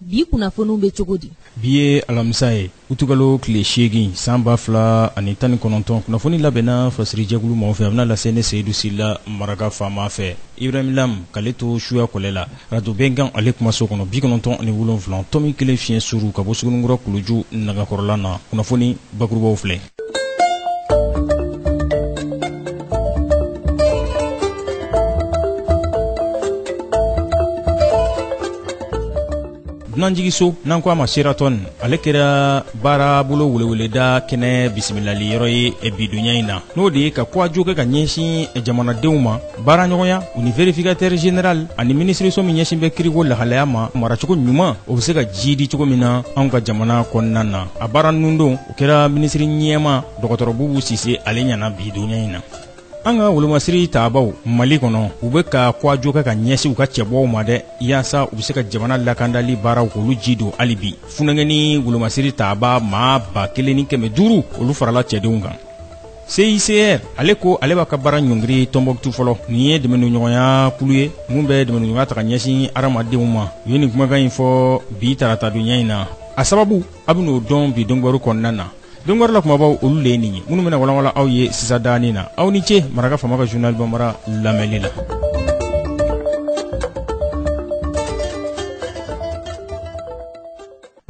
bi kunnafoniw bɛ cogo di bi ye alamisa ye utukalo tile seegin san ba fila ani tan ni kɔnɔntɔn kunnafoni labɛnna fasirijɛkulu mɔgɔ fɛ a bɛna lase ne seyidu sila maraka faama fɛ ibrahim lam k'ale to suya kɔlɛ la radio bɛnkan ale kumaso kɔnɔ bi kɔnɔntɔn ani wolonfila tɔmi kelen fiɲɛ suru ka bɔ suguninkura kuluju nagakɔrɔla na kunnafoni bakurubaw filɛ dunanjiginso n'an ko a ma Sheraton ale kɛra baarabolo weleweleda kɛnɛ bisimilali yɔrɔ ye bi donya in na n'o de ye ka kuwajo kɛ ka ɲɛsin jamanadenw ma baaraɲɔgɔnya u ni vérificateur général ani minisiriso min ɲɛsin bɛ kiriko lahalaya ma maracogo ɲuman o bɛ se ka jiidi cogo min na anw ka jamana kɔnɔna na a baara nundon o kɛra minisiri ɲɛma dɔgɔtɔrɔ Bubu Sise ale ɲɛ na bi donya in na an ka wolomasiri taabaw mali kɔnɔ u bɛ ka kuwajo kɛ ka ɲɛsin u ka cɛbɔw ma dɛ yaasa u bɛ se ka jamana lakandali baaraw k'olu ji don hali bi funankɛnin wolomasiri taaba maa ba kelen ni kɛmɛ duuru olu farala cɛdenw kan CICR ale ko ale b'a ka baara ɲɔngiri Tɔnbɔkutu fɔlɔ nin ye dɛmɛniɲɔgɔnya kulu ye min bɛ dɛmɛniɲɔgɔnya ta ka ɲɛsin hadamadenw ma u ye nin kumakan in fɔ bi tarata donya in na a sababu A bɛn'o dɔn bi dɔnkibaru kɔnɔna na dɔnkibaru la kumabaw olu de ye nin ye minnu bɛna walawala aw ye sisan danin na aw ni ce maraka faama ka journal bambara lamɛnni la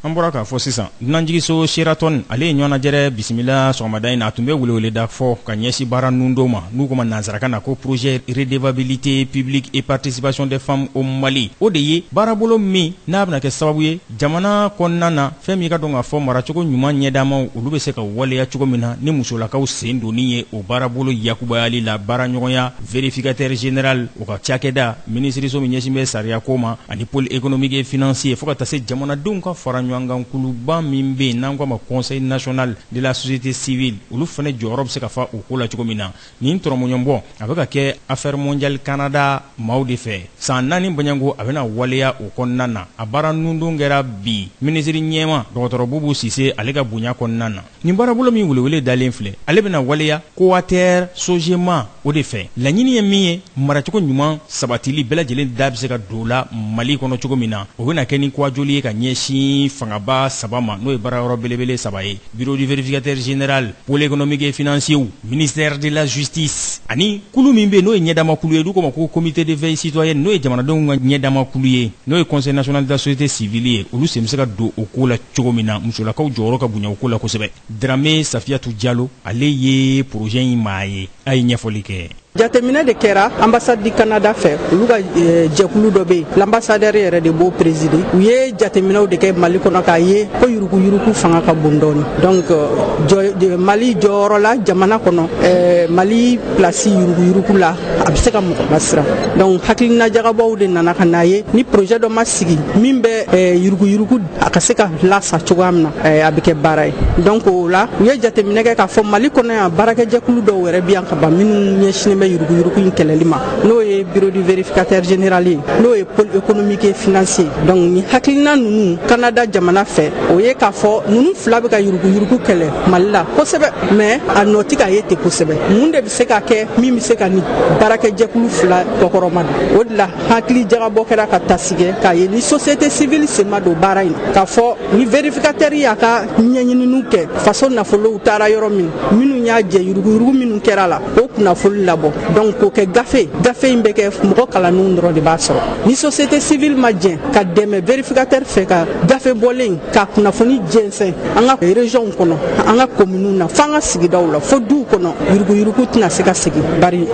an bɔra k'a fɔ sisan dunanjiginso Sheraton ale ye ɲɔgɔnnajɛrɛ bisimila sɔgɔmada in na a tun bɛ weleweleda fɔ ka ɲɛsin baara nundon ma n'u k'o ma nansarakan na ko projet redevabilité publique et participation des femmes au Mali o de ye baarabolo min n'a bɛna kɛ sababu ye jamana kɔnɔna na fɛn min k'a dɔn k'a fɔ maracogo ɲuman ɲɛdamaw olu bɛ se ka waleya cogo min na ni musolakaw sen donni ye o baarabolo yakubayali la baaraɲɔgɔnya vérificateur général o ka cakɛda minisiriso min ɲɛsinnen bɛ sariyako ma ani pôle économique et financier fo ka taa se jamanadenw ka faraɲɔgɔnkan kuluba min bɛ yen n'an k'a ma conseil national de la société civile olu fana jɔyɔrɔ bɛ se ka fa o ko la cogo min na nin tɔrɔmɔɲɔnbɔ a bɛ ka kɛ Affaires mondiales Canada maaw de fɛ san naani baɲanko a bɛna waleya o kɔnɔna na a baara nundon kɛra bi minisiri ɲɛma dɔgɔtɔrɔ Bubu Sise ale ka bonya kɔnɔna na nin baarabolo min welewele dalen filɛ ale bɛna waleya Cowater Sogema o de fɛ laɲini ye min ye maracogo ɲuman sabatili bɛɛ lajɛlen da bɛ se ka don o la Mali kɔnɔ cogo min na o bɛna kɛ ni kuwajoli ye ka ɲɛsin fangaba saba ma n'o ye baarayɔrɔ belebele saba ye Bureau du vérificateur général pôle économique et financier ministère de la justice ani kulu min bɛ n'o ye ɲɛdamakulu ye n'u k'o ma ko comité de veille citoyenne n'o ye jamanadenw ka ɲɛdamakulu ye n'o ye conseil national de la société civile ye olu sen bɛ se ka don o ko la cogo min na musolakaw jɔyɔrɔ ka bonya o ko la kosɛbɛ Dramé Safiyatu Jalo ale ye projet in maa ye a ye ɲɛfɔli kɛ jateminɛ de kɛra ambassade du canada fɛ olu ka eh, jɛkulu dɔ bɛ yen l'ambassadeur yɛrɛ de b'o présider u ye jateminɛw de kɛ mali kɔnɔ k'a ye ko yuruguyurugu fanga ka bon dɔɔni donc eh, mali jɔyɔrɔ la jamana kɔnɔ eh, mali place yuruguyurugu la a bɛ se ka mɔgɔ lasiran donc hakilina jagabɔw de nana ka n'a ye ni projet dɔ ma sigi min bɛ yuruguyurugu a ka se ka lasa cogoya min na a bɛ kɛ baara ye donc o la u ye jateminɛ kɛ k'a fɔ mali kɔnɔ yan baarakɛjɛkulu dɔw yɛrɛ bi yan ka ban minnu ɲɛsinnen bɛ yuruguyurugu in kɛlɛli ma n'o ye bureau du vérificateur général ye n'o ye pôle économique et financier donc ni hakilina ninnu canada jamana fɛ o ye k'a fɔ ninnu fila bɛ ka yuruguyurugu kɛlɛ mali la kosɛbɛ mais a nɔ tɛ ka ye ten kosɛbɛ mun de bɛ se ka kɛ min bɛ se ka nin baarakɛjɛkulu fila kɔkɔrɔmadon o de la hakili jagabɔ kɛra ka taasi kɛ k'a ye ni société civile sen ma don baara in na k'a fɔ ni vérificateur y'a ka ɲɛɲininiw kɛ faso nafolow taara yɔrɔ min minnu y'a jɛ yuruguyurugu minnu kɛra a la o kunnafoli labɔ donc k'o kɛ gafe gafe in bɛ kɛ mɔgɔ kalannenw dɔrɔn de b'a sɔrɔ ni société civile ma jɛn ka dɛmɛ vérificateur fɛ ka gafe bɔlen ka kunnafoni jɛnsɛn an ka regionw kɔnɔ an ka kominiw na f'an ka sigidaw la fo duw kɔnɔ yuruguyurugu tɛna se ka segin bari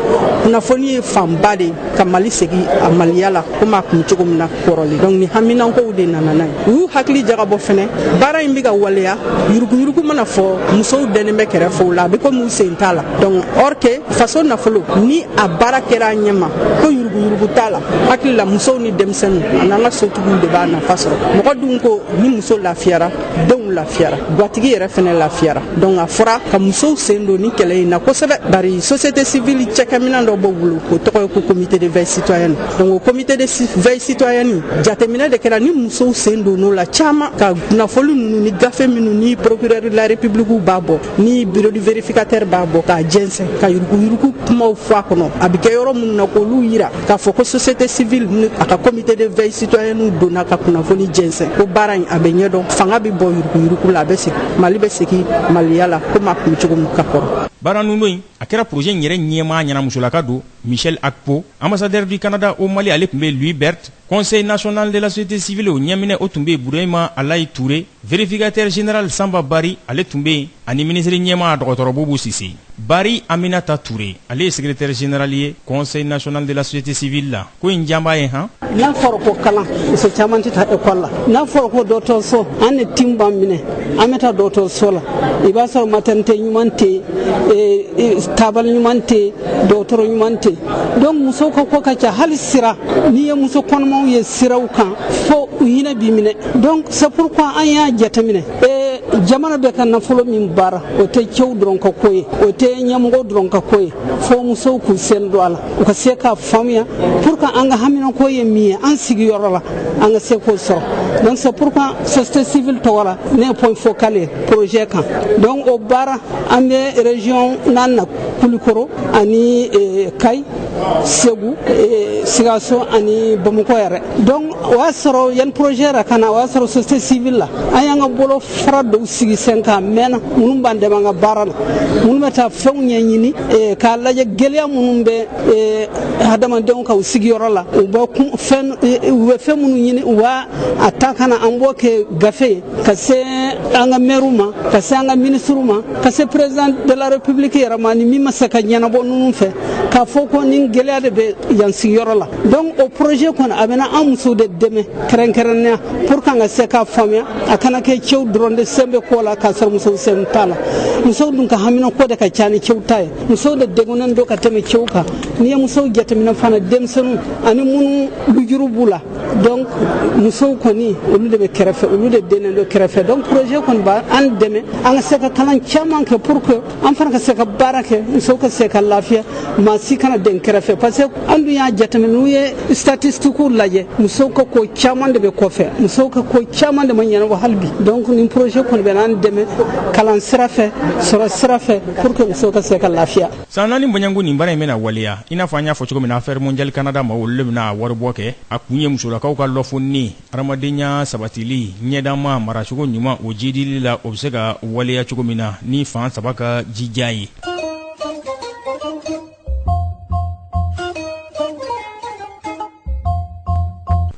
kunnafoni ye fanba de ka mali segi a maliya la komi a kun cogo min na kɔrɔlen donc ni haminankow de nana n'a ye u y'u hakili jagabɔ fɛnɛ baara in be ka waleya yuruguyurugu mana fɔ musow dɛnnen bɛ kɛrɛfɛ o la a be komi u sen t'a la donc or que faso nafolo ni a baara kɛra a ɲɛma ko yuruguyurugu t'a la hakili la musow ni denmisɛnw an'an ka sotigiw de b'a nafa sɔrɔ mɔgɔ dun ko ni muso lafiyara denw lafiyara gwatigi yɛrɛ fɛnɛ lafiyara donc a fɔra ka musow sen don ni kɛlɛ in na kosɛbɛ bari société civile cɛkɛminan dɔ b'o bolo o tɔgɔ ye ko comité de veille citoyenne donc o comité de veille citoyenne jateminɛ de kɛra ni musow sen donn'o la caman ka kunnafoli nunu ni gafe minnu ni procureur de la république b'a bɔ ni bureau du vérificateur b'a bɔ k'a jɛnsɛn ka yuruguyurugu kumaw fɔ a kɔnɔ a bɛ kɛ yɔrɔ minnu na k'olu yira k'a fɔ ko société civile ni a ka comité de veille citoyennew donna ka kunnafoni jɛnsɛn ko baara in a bɛ ɲɛdɔn fanga bɛ bɔ yuruguyurugu la a bɛ segin mali bɛ segin maliya la komi a kun cogo min ka kɔrɔ baara nundon in a kɛra projet in yɛrɛ ɲɛmaa ɲɛna musolaka don michèle akpo ambassadeur du canada au mali ale tun bɛ louis verret conseil national de la société civile o ɲɛminɛ o tun bɛ burema alayi ture Vérificateur général Sanba Bari ale tun bɛ yen ani minisiri ɲɛmaa dɔgɔtɔrɔ Bubu Sise, Bari Aminata Ture ale ye secretaire général ye Conseil national de la société civile la, ko in diya b'a ye han! N'a fɔra ko kalan, muso caman tɛ taa école la, n'a fɔra ko dɔgɔtɔrɔso, an de tin b'an minɛ, an bɛ taa dɔgɔtɔrɔso la, i b'a sɔrɔ maternité ɲuman tɛ yen, ee tabali ɲuman tɛ yen, dɔgɔtɔrɔ ɲuman tɛ yen, donc musow ka ko ka ca, hali sira, n'i ye muso kɔnɔmaw ye siraw kan fo u hinɛ b'i minɛ donc c'est pourquoi an y'a jateminɛ ee jamana bɛ ka nafolo min baara o tɛ cɛw dɔrɔn ka ko ye o tɛ ɲɛmɔgɔ dɔrɔn ka ko ye fo musow k'u sen don a la u ka se k'a faamuya pour que an ka haminako ye min ye an sigiyɔrɔ la an ka se k'o sɔrɔ donc c'est pourquoi société civile tɔgɔ la ne ye point focal ye projet kan donc o baara an bɛ région naani na kulikoro ani eh, kayi segu eh, sikaso ani bamakɔ yɛrɛ donc o y'a sɔrɔ yani projet yɛrɛ ka na o y'a sɔrɔ société civile la an y'an ka bolofara dɔw sigi sen kan mɛnna minnu b'an dɛmɛ an ka baara la minnu bɛ taa fɛnw ɲɛɲini eh, k'a lajɛ gɛlɛya minnu bɛ eh, hadamadenw ka u sigiyɔrɔ la u bɛ fɛn u bɛ fɛn minnu ɲini u b'a ta ka na an b'o kɛ gafe ye ka se an ka mɛriw ma ka se an ka minisiriw ma ka se président de la république yɛrɛ ma ni min ma se ka ɲɛnabɔ ninnu fɛ k'a fɔ ko nin gɛlɛya de bɛ yan sigiyɔrɔ la donc o projet kɔni a bɛna an musow de dɛmɛ kɛrɛnkɛrɛnnenya pour que an ka se k'a faamuya a kana kɛ cɛw dɔrɔn de sen bɛ ko la k'a sɔrɔ musow sen t'a la musow dun ka haminako de ka ca ni cɛw ta ye musow de degunnen don ka tɛmɛ cɛw kan n'i ye musow jateminɛ fana denmisɛnninw ani minnu lujuru b'u la donc musow kɔni olu de bɛ kɛrɛfɛ olu de dennen don kɛrɛfɛ donc projet kɔni b'an dɛmɛ an ka se ka kalan caman kɛ pour que an fana ka se ka baara kɛ musow ka se ka lafiya maa si kana den kɛrɛfɛ parce que an dun y'a jateminɛ n'u ye statistiques lajɛ musow ka ko caman de bɛ kɔfɛ musow ka ko caman de ma ɲɛnabɔ hali bi donc nin projet kɔni bɛna an dɛmɛ kalan sira fɛ sɔrɔ sira fɛ pour que musow ka se ka lafiya San naani bɔɲɔgɔnko nin baara in bɛna waleya i n'a fɔ an y'a fɔ cogo min na Affaires mondiales Canada ma olu de bɛna waribɔ kɛ a kun ye musolakaw ka lɔfonni hadamadenya sabatili ɲɛdaama maracogo ɲuman o jiidili la o bɛ se ka waleya cogo min na ni fan saba ka jija ye.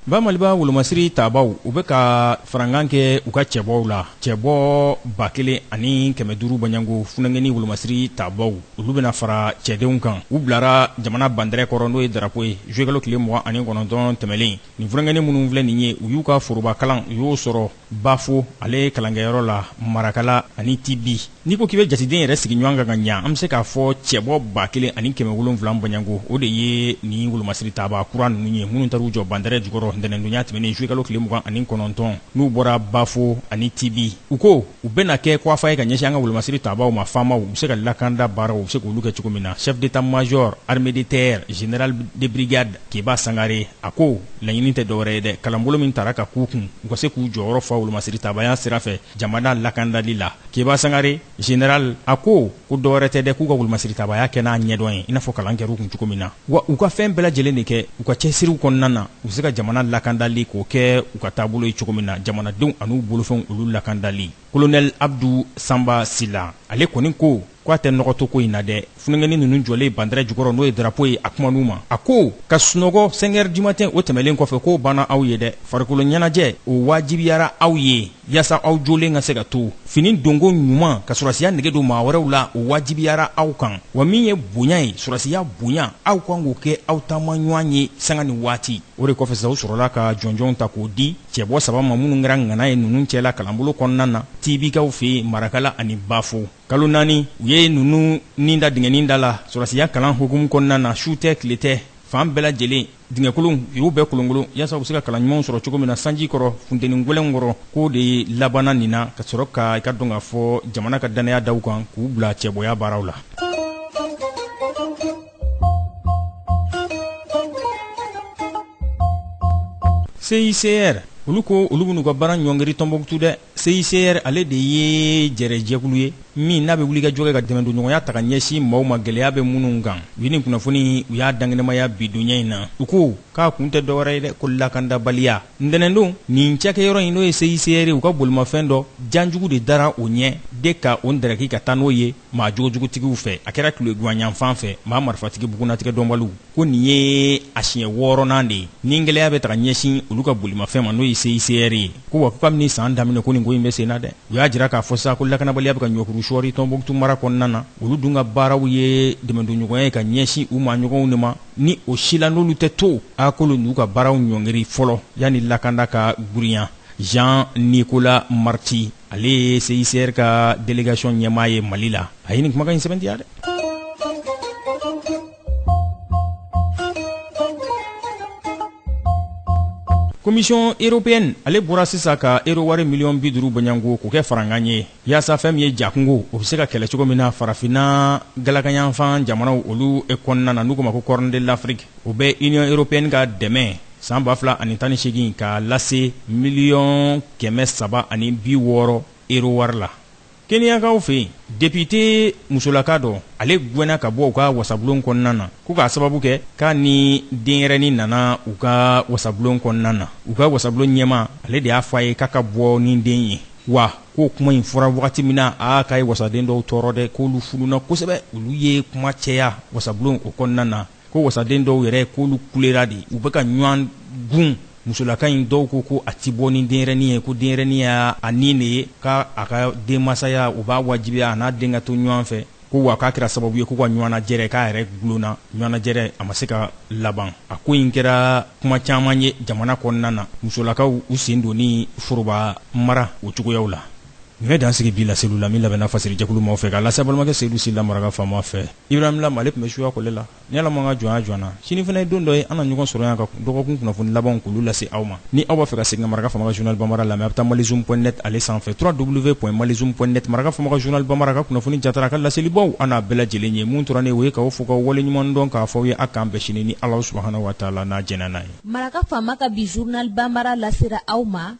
Ba Maliba wolomasiri tabaaw u bɛ ka farankan kɛ u ka cɛbɔw la. cɛbɔ ba kelen ani kɛmɛ duuru bɔɲɔgɔnko funankɛnin wolomasiri tabaaw olu bɛna fara cɛdenw kan u bilara jamana bandɛrɛ kɔrɔ n'o ye drapeau ye zuwɛkalo tile mugan ani kɔnɔntɔn tɛmɛnen nin funankɛnin minnu filɛ nin ye u y'u ka forobakalan u y'o sɔrɔ bafo ale kalankɛyɔrɔ la marakala ani tibi n'i ko k'i bɛ jateden yɛrɛ sigi ɲɔgɔn kan ka ɲa an bɛ se k'a fɔ cɛbɔ ba kelen ani kɛmɛ wolonwula bɔɲɔgɔnko o de ye nin wolomasiri tabaa kura ninnu ye minnu taara u jɔ bandarɛ jukɔrɔ ntɛnɛndonya tɛmɛnen zuwɛkalo tile mugan ani kɔnɔntɔn n'u bɔra bafo ani tibi u ko u bɛna kɛ kɔwafa ye ka ɲɛsin an ka wolomasiri tabaaw ma faamaw u bɛ se ka lakanda baaraw u bɛ se k'olu kɛ cogo min na chef d'état major armée de terre général de brigade keba sangare a ko laɲini tɛ dɔwɛrɛ ye dɛ kalanbolo min tara k'a k'u kun u ka se k'u jɔyɔrɔ fa wolomasiri tabaaya sira fɛ jamana lakandali la Keba Sangare général a ko ko dɔwɛrɛ tɛ dɛ k'u ka wolomasiritabaaya kɛ n'a ɲɛdɔn ye i n'a fɔ kalan kɛr'u kun cogo min na, wa u ka fɛn bɛɛ lajɛlen de kɛ u ka cɛsiriw kɔnɔna na u bɛ se ka jamana lakandali k'o kɛ u ka taabolo ye cogo min na, jamanadenw an'u bolofɛnw olu lakandali. Colonel Abdou Samba Sila ale kɔni ko ko a tɛ nɔgɔ to ko in na dɛ funankɛnin ninnu jɔlen bandɛrɛ jukɔrɔ n'o ye darapo ye a kuman'u ma a ko ka sunɔgɔ cinq heures du matin o tɛmɛlen kɔfɛ k'o banna aw ye dɛ farikolo ɲɛnajɛ o waajibiyara aw ye yaasa aw jɔlen ka se ka to fini donko ɲuman ka sɔrɔsiya nege don maa wɛrɛw la o waajibiyara aw kan wa min ye bonya ye sɔrɔsiya bonya aw kan k'o kɛ aw taamaɲɔgɔn ye sanga ni waati o de kɔfɛ sa u sɔrɔla ka jɔnjɔnw ta k'o di cɛbɔ saba ma minnu kɛra ŋana ye ninnu cɛla kalanbolo kɔnɔna na tibikaw fɛ marakala ani bafo kalo naani u ye ninnu ni da dingɛnin da la sɔrɔsiya kalan hukumu kɔnɔna na su tɛ tile tɛ fan bɛɛ lajɛlen dingɛkolonw u y'u bɛɛ kolonkolon yaasa u bɛ se ka kalan ɲumanw sɔrɔ cogo min na sanji kɔrɔ funteni gwɛlɛn kɔrɔ k'o de labanna nin na ka sɔrɔ ka i ka dɔn k'a fɔ jamana ka dannaya da u kan k'u bila cɛbɔya baaraw la CICR olu ko olu bɛn'u ka baara ɲɔngiri Tɔnbɔkutu dɛ. CICR ale de ye jɛrɛjɛkulu ye min n'a bɛ wulikajɔ kɛ ka dɛmɛdonɲɔgɔnya ta ka ɲɛsin maaw ma gɛlɛya bɛ minnu kan u ye nin kunnafoni u y'a dakɛnɛmaya bi donya in na u ko k'a kun tɛ dɔwɛrɛ ye dɛ ko lakandabaliya ntɛnɛndon nin cakɛyɔrɔ in n'o ye CICR ye u ka bolimafɛn dɔ janjugu de dara o ɲɛ de ka o ndaraki ka taa n'o ye maa jogojugutigiw fɛ a kɛra tileganyanfan fɛ maa marifatigi bugunnatigɛdɔnbaliw ko nin ye a siɲɛ wɔɔrɔnan de ye ni gɛlɛya bɛ ta ka ɲɛsin olu ka bolimafɛn ma n'o ye CICR ye ko wa kabini san daminɛ ko nin ko in bɛ senna dɛ u y'a jira k'a fɔ sa ko lakanabaliya bɛ ka ɲɔkuru sɔɔri Tɔnbukutu mara kɔnɔna na olu dun ka baaraw ye dɛmɛdonɲɔgɔnya ye ka ɲɛsin u maaɲɔgɔnw de ma ni o si la n'olu tɛ to a k'olu n'u ka baaraw ɲɔngiri fɔlɔ yanni lakanda ka girinya Jean Nicolas Marti ale ye CICR ka délégation ɲɛmaa ye Mali la a ye nin kumakan in sɛbɛntiya dɛ. Commission européenne ale bɔra sisan ka euro wari miliyɔn bi duuru bɔɲɔgɔnko k'o kɛ farankan ye yaasa fɛn min ye jakɔngɔ o bɛ se ka kɛlɛ cogo min na farafinna galakanyanfan jamanaw olu e kɔnɔna na n'u k'o ma ko Corne de l'Afrique o bɛ Union européenne ka dɛmɛ san ba fila ani tan ni segin ka lase miliyɔn kɛmɛ saba ani bi wɔɔrɔ euro wari la keniyakaw fɛ yen depite musolaka dɔ ale gɛnna ka bɔ u ka wasabulon kɔnɔna na ko k'a sababu kɛ k'a ni denyɛrɛni nana u ka wasabulon kɔnɔna na u ka wasabulon ɲɛmaa ale de y'a fɔ a ye k'a ka bɔ ni den ye wa k'o kuma in fɔra wagati min na aa k'a ye wasaden dɔw tɔɔrɔ dɛ k'olu fununna kosɛbɛ olu ye kuma caya wasabulon o kɔnɔna na ko wasaden dɔw yɛrɛ k'olu kulera de u bɛ ka ɲɔgɔn gun musolaka in dɔw ko ko a tɛ bɔ ni denyɛrɛni ye ko denyɛrɛni y'a ni de ye ko a ka denmasaya o b'a wajibiya a n'a den ka to ɲɔgɔn fɛ ko wa k'a kɛra sababu ye k'u ka ɲɔgɔnnajɛrɛ k'a yɛrɛ gulonna ɲɔgɔnnajɛrɛ a ma se ka laban a ko in kɛra kuma caman ye jamana kɔnɔna na musolakaw u sen donni foroba mara o cogoyaw la Nin bɛ dan sigi bi laseliw la min labɛnna Fasiri jɛkulu maaw fɛ k'a lase balimakɛ Seyidu Sila Maraka faama fɛ. Ibrahim Lam ale tun bɛ suya kɔlɛ la. Ni Ala ma an ka jɔnya jɔ an na, sini fana ye don dɔ ye an na ɲɔgɔn sɔrɔ yan ka dɔgɔkun kunnafoni labanw k'olu lase aw ma. Ni aw b'a fɛ ka segin ka Maraka faama ka journal Banbara lamɛn, a bɛ taa malizoom point net ale sanfɛ www.malizoom point net Maraka faama ka journal Banbara a ka kunnafoni jatara a ka laselibaw a n'a bɛɛ lajɛlen ye. Min tora ne ye o ye k'aw fo k'aw waleɲumandɔn k'a fɔ aw ye a k'an bɛn sini ni Alahu subahanahu wataala n'a jɛna n'a ye. Maraka faama ka bi journal Banbara lasera aw ma.